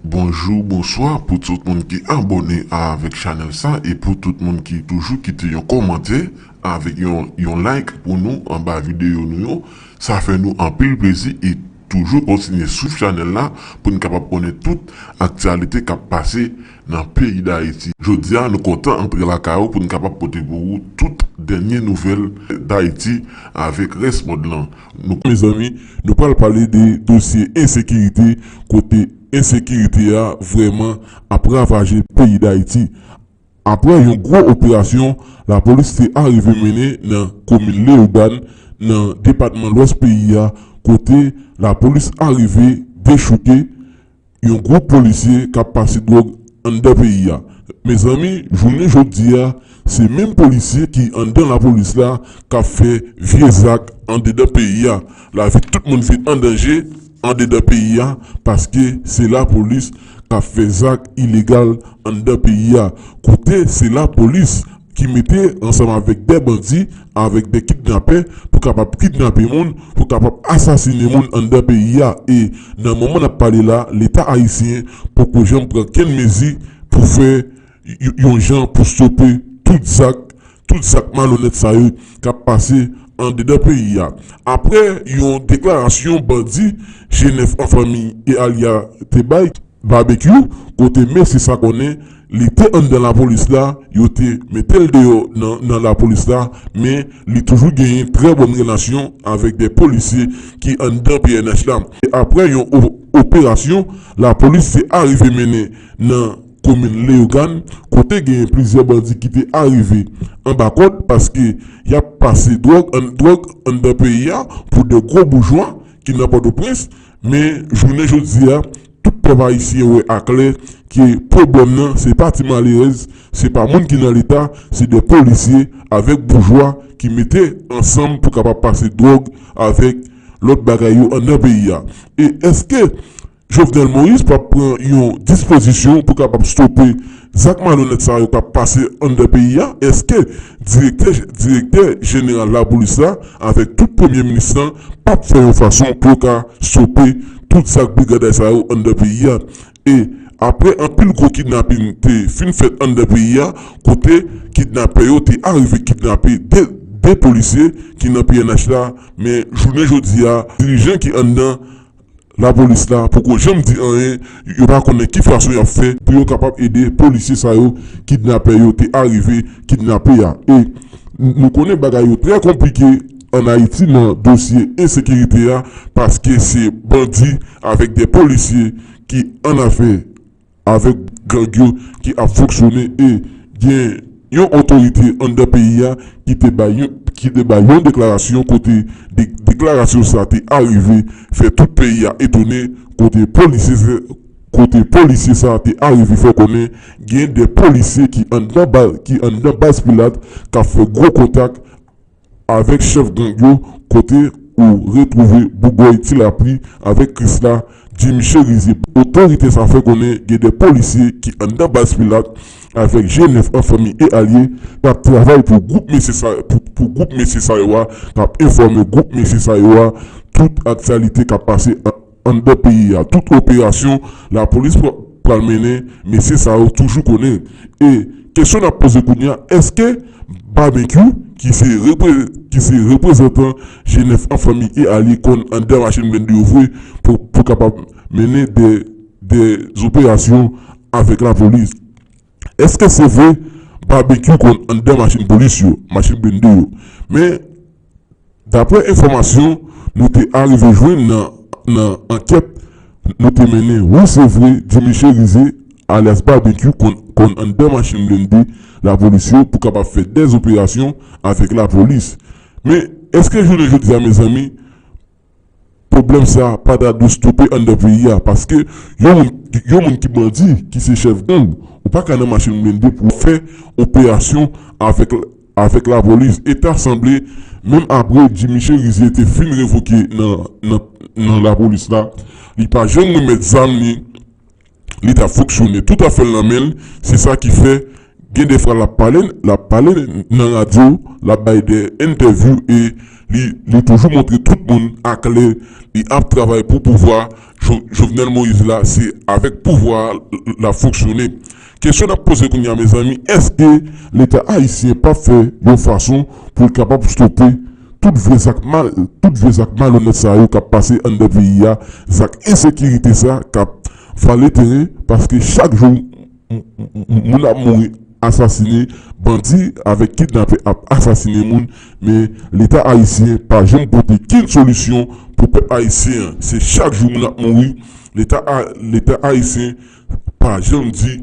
Bonjou bonswa pou tout moun ki abòne avèk chanèl sa e pou tout moun ki toujou kite yon kòmantè avèk yon yon like pou nou anba videyo nou yo sa fè nou anpil plezi e toujou kontinye swiv chanèl la poun kapab konnen tout aktyalite kap pase nan peyi dayiti jodia nou kontan antre lakay ou poun kapab pote pou ou tout dènye nouvèl dayiti avèk rès mond lan. Nou mezanmi nou pral pale de dosye ensekirite kote ensekirite a vrèman ap ravaje peyi dayiti aprè yon gwo operasyon lapolis te arive mennen nan komin leogann nan depatman lwès peyi a kote lapolis arive dechouke yon gwoup polisye kap pase dwòg anndan peyi a mezanmi jounen jodia se menm polisye ki anndan lapolis la kap fè vye zak andedan peyi a lavi tout moun vin an danje andedan peyi a paske se lapolis kap fè zak ilegal anndan peyi a kote se lapolis ki mete ansanm avèk dè bandi avèk dè kidnapè pou kapab kidnape moun pou kapab asasine moun anndan peyi a e nan moman nap pale la leta ayisyen poko janm pran kenn mezi pou fè yon jan pou stope tout zak tout zak malonèt sa yo kap pase andedan peyi a aprè yon deklarasyon bandi G9 an fanmi e alya te bay. Barbecue kote mesye sa konnen li te anndan lapolis la yo te metel deyò nan lapolis la men li toujou genyen trè bòn relasyon avèk 2 polisye ki anndan pnh la e aprè yon operasyon lapolis te arive mennen nan komin Leyogàn kote genyen plizyè bandi ki te arive anba kòd paske yap pase dwòg anndan peyi a pou 2 gwo boujwa ki nan pòtoprens Men, jounen jodi a, tout pèp ayisyen wè aklè ke pwoblèm nan se pa ti malerèz, se pa moun ki nan Leta, se de polisye avèk boujwa ki mete ansanm pou kapab pase dwòg avèk lòt bagay yo anndan peyi a. E èske Jovenel Moïse p ap pran yon dispozisyon pou kapab stope Zak malonèt sa yo k ap pase anndan peyi a, èske direktè direktè jeneral lapolis la avèk tout premye minis la p ap fè yon fason pou yo ka stope tout zak briganday sa yo anndan peyi a? E aprè anpil gwo kidnapin te fin fèt anndan peyi a kote kidnapè yo te arive kidnape 2 2 polisye ki nan pnh la men jounen jodi a dirijan ki anndan Lapolis la poko janm di anyen, yo pa konnen ki fason y ap fè pou yo kapab ede polisye sa yo kidnapè yo te arive kidnape a. E nou konnen bagay yo trè konplike ann Ayiti nan dosye ensekirite a paske se bandi avèk de polisye ki annafè. avèk gang yo ki ap fonksyone e gen yon otorite anndan peyi a ki te bay yon deklarasyon kote deklarasyon sa te arive fè tout peyi a etone kote polisye sa te arive fè konnen gen de polisye ki anndan baz pilat k ap fè gwo kontak Avèk chèf gang yo kote ou retwouve Bougòy Ti Lapli avèk Krisla Jimmy Cherizier. Otorite sa fè konnen gen 2 polisye ki anndan baz Pilat avèk je nèf an fanmi e alye k ap travay pou gwoup mesye sa pou gwoup mesye sa yo a k ap enfòme gwoup mesye sa yo a tout aktyalite k ap pase an Anndan peyi a, tout operasyon lapolis pral mennen mesye sa yo toujou konnen e kesyon n ap poze kounye a èske Babenkyou ki se ki se reprezantan G9 an fanmi e alye konn anndan machin blende yo vre pou pou kapab mennen dè dè zoperasyon avèk lapolis? Èske se vre Babenkyou konn anndan machin polis yo, machin blende yo? Men Daprè enfòmasyon nou te arive jwenn nan ankèt nou te mennen wi se vre Jimmy Cherizier alyas Barbecue konn anndan machin blende lapolis yo pou kapab fè dèz operasyon avèk lapolis men èske jounen jodi a mezanmi Pwoblèm sa pa ta dwe stope anndan peyi a paske yon moun ki bandi, ki se chèf gang, ou pa ka nan machin blende pou w fè operasyon avèk lapolis. E ta sanble menm apre Jimmy Cherizier te fin revoke nan lapolis la, li pa janm remèt zam li. li ta fonksyone tout afèl nan menl se sa ki fè gen de fwa lap pale lap pale nan radyo lap bay de entèvyou e li toujou montre tout moun aklè li ap travay pou pouvwa jovenel moïse la se avèk pouvwa lap fonksyone kesyon nap poze kounya mezanmi eske leta ayisyen pap fè yon fason poul kapab stope. Tout vye zak mal, tout vye zak malonèt sa yo kap pase anndan peyi a, zak ensekirite sa kap vale teren paske chak jou moun ap mouri asasine, bandi avèk kidnapè ap asasine moun men leta ayisyen pa janm pote ken solisyon pou pèp ayisyen an se chak jou moun ap mouri leta ayisyen pa janm di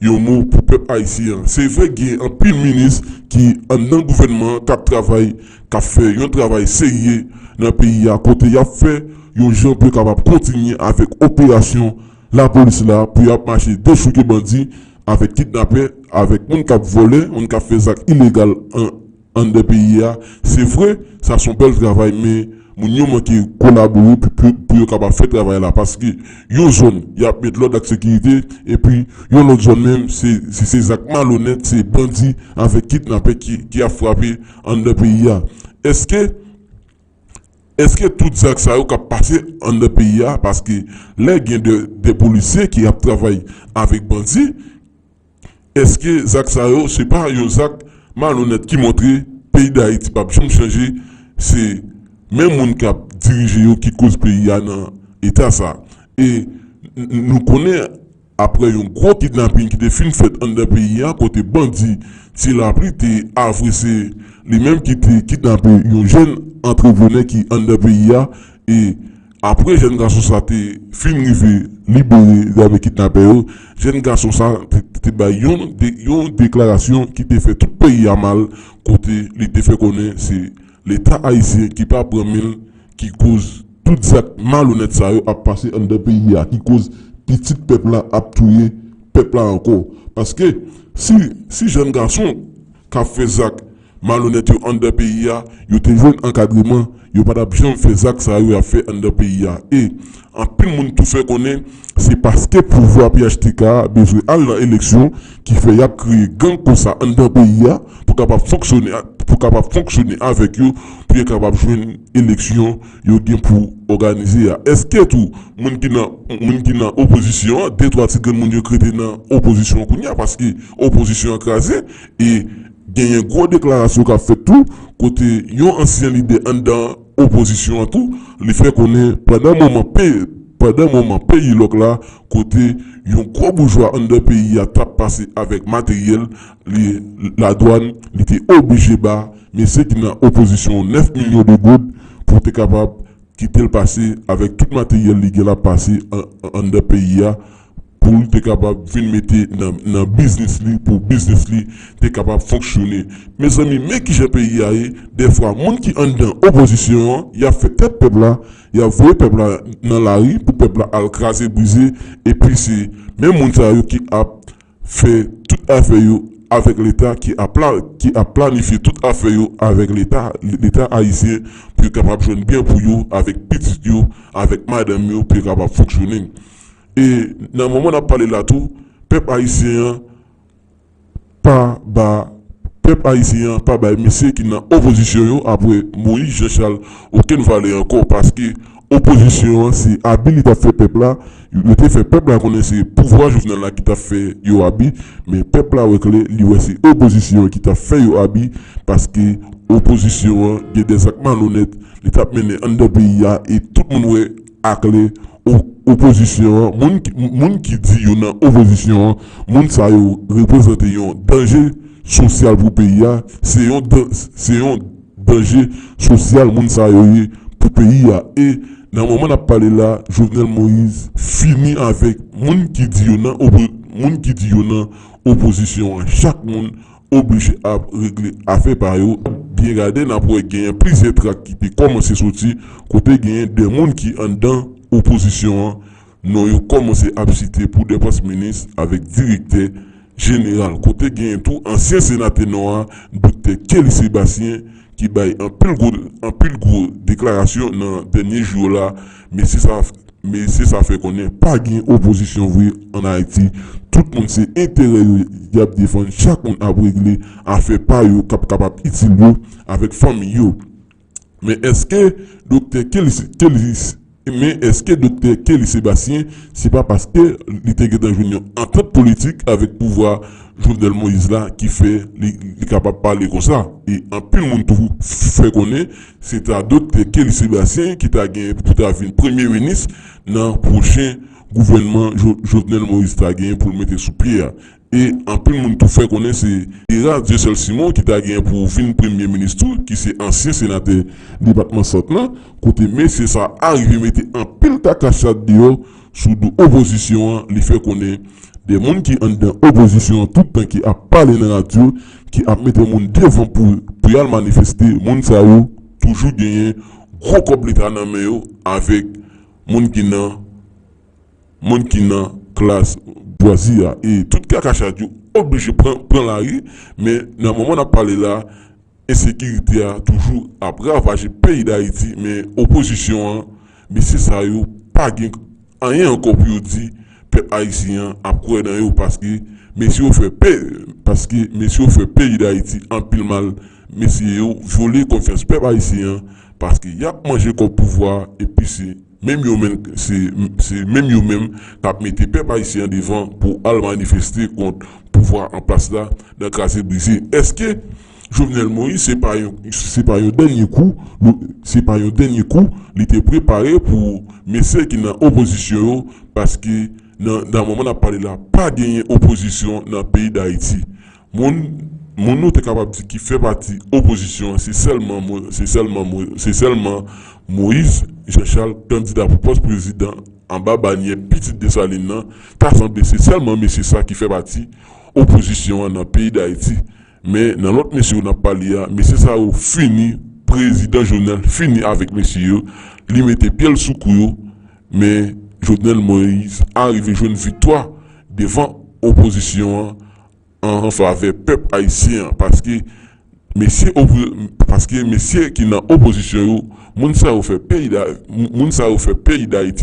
yon mo pou pèp ayisyen an. Se vre gen anpil minis ki anndan gouvènman an k ap travay, k ap fè yon travay serye nan peyi a kote y ap fè yon jan pou yo kapab kontinye avèk operasyon lapolis la pou y ap mache dechouke bandi avèk kidnapè, avèk moun k ap vòlè, moun k ap fè zak ilegal anndan peyi a, se vre sa son bèl travay men moun yo manke kolabore pou yo kapab fè travay la paske yon zòn yap met lòd ak sekirite epi yon lòt zòn menm se se zak malonèt se bandi avèk kidnapè ki ap frape anndan peyi a eske eske tout zak sa yo kap pase anndan peyi a paske lè gen de polisye ki ap travay avèk bandi. Eske zak sa yo se pa yon zak malonèt ki montre peyi dayiti pap janm chanje se menm moun kap dirije yo ki koz peyi a nan eta sa e nou konnen aprè yon gwo kidnaping ki te fin fèt anndan peyi a kote bandi ti lapli te avwe se li menm ki te kidnape yon jèn antreprenè ki anndan peyi a e Apre jèn gason sa te fin rive libere zave kidnapè yo, jèn gason sa te bay yon deklarasyon ki te fè tout peyi a mal kote li te fè konnen se leta ayisyen ki pa pran men l ki koz tout zak malonèt sa yo ap pase anndan peyi a ki koz pitit pèp la ap touye pèp la ankò paske si jèn gason k ap fè zak Malonèt yo anndan peyi a, yo te jwenn ankadreman, yo pa t ap janm fè zak sa yo y ap fè anndan peyi a e, anpil moun tou fè konnen, se paske pouvwa phtk a bezwen al nan eleksyon ki fè y ap kreye gang konsa anndan peyi a pou kapab fonksyone pou kapab fonksyone avèk yo pou yo kapab jwenn eleksyon yo gen pou òganize a Èske tou moun ki nan moun ki nan opozisyon an de twa ti grenn moun yo k rete nan opozisyon an kounye a paske opozisyon an kraze e Genyen gwo deklarasyon k ap fèt tou kote yon ansyen lidè anndan opozisyon an tou li fè konnen pandan moman pe pandan moman peyi lòk la kote yon gwo boujwa anndan peyi a t ap pase avèk materyèl li ladwàn li te oblije ba mesye ki nan opozisyon 9 milyon de goud pou te kapab kite l pase avèk tout materyèl li gen l ap pase anndan peyi a pou l te kapab vin mete nan biznis li pou biznis li te kapab fonksyone mezanmi men kijan peyi a ye dèfwa moun ki anndan opozisyon an yap fè tèt pèp la yap voye pèp la nan lari pou pèp la al kraze brize epi se menm moun sa yo ki ap fè tout afè yo avèk leta ki ap planifye tout afè yo avèk leta ayisyen pou yo kapab jwenn byen pou yo avèk pitit yo avèk madanm yo pou yo kapab fonksyone. E nan moman nap pale la tou pèp ayisyen an pa ba pèp ayisyen an pa bay mesye ki nan opozisyon yo apre Moyiz Janchal okenn valè ankò paske opozisyon an se abi li tap fè pèp la yo te fè pèp la konnen se pouvwa Jovenel la ki tap fè yo abi men pèp la wè klè li wè se opozisyon an ki tap fè yo abi paske opozisyon an gen dè zak malonèt li tap mennen anndan peyi a e tout moun wè ak le opozisyon an, moun ki di yo nan opozisyon an, moun sa yo reprezante yon danje sosyal pou peyi a, se yon danje sosyal moun sa yo ye pou peyi a e nan moman n ap pale la Jovenel Moïse fini avèk moun ki di yo nan opozisyon an, chak moun oblije ap regle afè pa yo, byen gade n ap wè genyen plizyè trak ki te kòmanse soti kote genyen 2 moun ki anndan opozisyon an non yo kòmanse ap site pou 2 pòs minis avèk direktè jeneral kote genyen tou ansyen senatè Nò a Doktè Kelly Sébastien ki bay anpil gwo deklarasyon nan dènye jou yo la mesye sa Mesye sa fè konnen pa gen opozisyon vre an Ayiti, tout moun se enterè yo yap defann chak moun ap regle afè pa yo kap kapab itil yo avèk fanmiy yo. Men eske Doktè men eske Doktè Kelly Sebastien se pa paske li te gentan jwenn yon antant politik avèk pouvwa Jovenel Moïse la ki fè li kapab pale konsa e anpil moun tou fè konnen Se ta dot Kelly Sebastien ki ta gen pou ta vin premye minis nan pwochen gouvènman Jovenel Moïse ta gen pou l mete sou pye a. E anpil moun tou fè konnen se Gérard Dieuseul Simon ki ta gen pou vin premye minis tou ki se ansyen senatè depatman Sant lan kote mesye sa a rive mete anpil kaka chat deyò Sou do opozisyon an li fè konnen de moun ki anndan opozisyon an tout tan ki ap pale nan radyo ki ap mete moun devan pou pou yal manifeste moun sa yo toujou genyen gwo kòb leta nan men yo avèk moun ki nan moun ki nan klas bwazye a e tout kaka chat yo oblije pran pran lari men nan moman nap pale la. Ensekirite a toujou ap ravaje peyi Dayiti men opozisyon an, mesye sa yo pa gen anyen ankò pou yo di, pèp ayisyen an ap kwè nan yo paske mesye yo fè paske mesye yo fè peyi Dayiti anpil mal mesye yo vyole konfyans pèp ayisyen an paske yap manje kòb pouvwa epi se Menm yo menm se se menm yo menm kap mete pèp ayisyen an devan pou al manifeste kont pouvwa an plas la nan kraze brize eske Jovenel Moïse se pa yon se pa yon dènye kou se pa yon dènye kou li te prepare pou mesye ki nan opozisyon yo paske nan nan moman nap pale la pa genyen opozisyon nan peyi dayiti Moun ou te kapab di ki fè pati opozisyon an se sèlman Moyiz Janchal kandida pou pòs prezidan anba banyè pitit Desalin nan, ta sanble se sèlman mesye sa ki fè pati opozisyon an nan peyi Dayiti men nan lòt mesye yo n ap pale a mesye sa yo fini prezidan Jovenel fini avèk mesye yo li mete pye l sou kou yo men Jovenel Moyiz arive jwenn viktwa devan opozisyon an. an favè pèp ayisyen an paske mesye ki nan opozisyon yo moun sa yo fè peyi dayiti